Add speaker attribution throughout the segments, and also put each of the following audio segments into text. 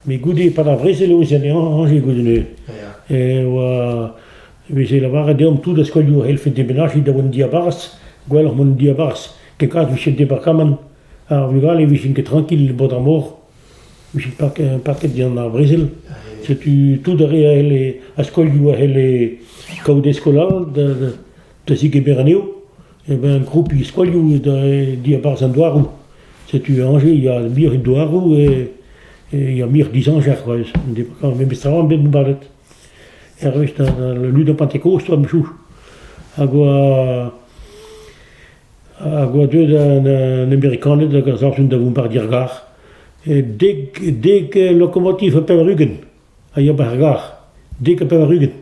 Speaker 1: Met goude, pad ar brezel e oa en Añje goude e oa e veze lavaret deomp tout a skolioù a c'hellfe demenajiñ da an diabarzh, gwelloc'h mont en diabarzh, ket kas 'vije departamant ar vugale 'vijent ket trankil bod ar mor. Ouzhpenn paket gant ar brezel, setu tout ar re a c'helle, ar skolioù a c'helle kaout e skolaj da zigemer anezho. Eh ben kroupiñ skolioù diabarzh an douaroù. Setu Angers, il y a muioc'h a douaroù e il y a muioc'h dizañjer c'hoazh. Memes tra on bet bombardet. Hervez la lutte en Pentecôte, a-choù. Hag oa Ar goadeu d'an Amerikaned hag a savjont da vont 'ba'r gêr-gar, dek dek lokomotiv ha pevar-ugent a ya 'ba'r gar, dek ha pevar-ugent.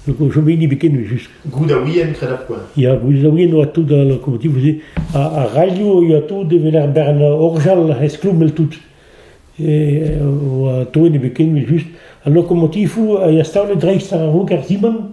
Speaker 1: Donc o chom hini biken just. Goudawien kred ar
Speaker 2: poent. Ya, Goudawien oa
Speaker 1: tout ar lokomotivoù-se. Ha ar radio yoa tout evel er bern orjal esklommel-tout. E oa toet e biken just. Al lokomotivoù a ya staolet dreist ar roger Simon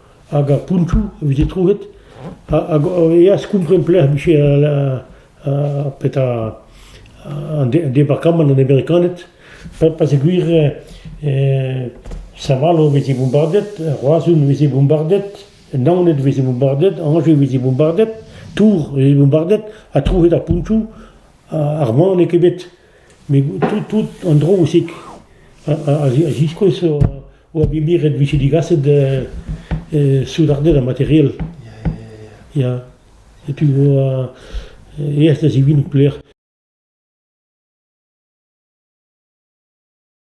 Speaker 1: hag ar pontioù a vije troet, hag e yeas kompren pelec'h vije petra an departamant an Amerikaned, pa se gwir Saint-Malo veze bombardet, Roazhon veze bombardet, Naoned veze bombardet, Angers veze bombardet, Tours veze bombardet ha troet ar pontioù, ar mann n'eo ket bet. Met tout an dro aussi a ziskouez oa bet miret e vije digaset soudarded ha materiel. Ya, setu oa aes da zivinout pelec'h.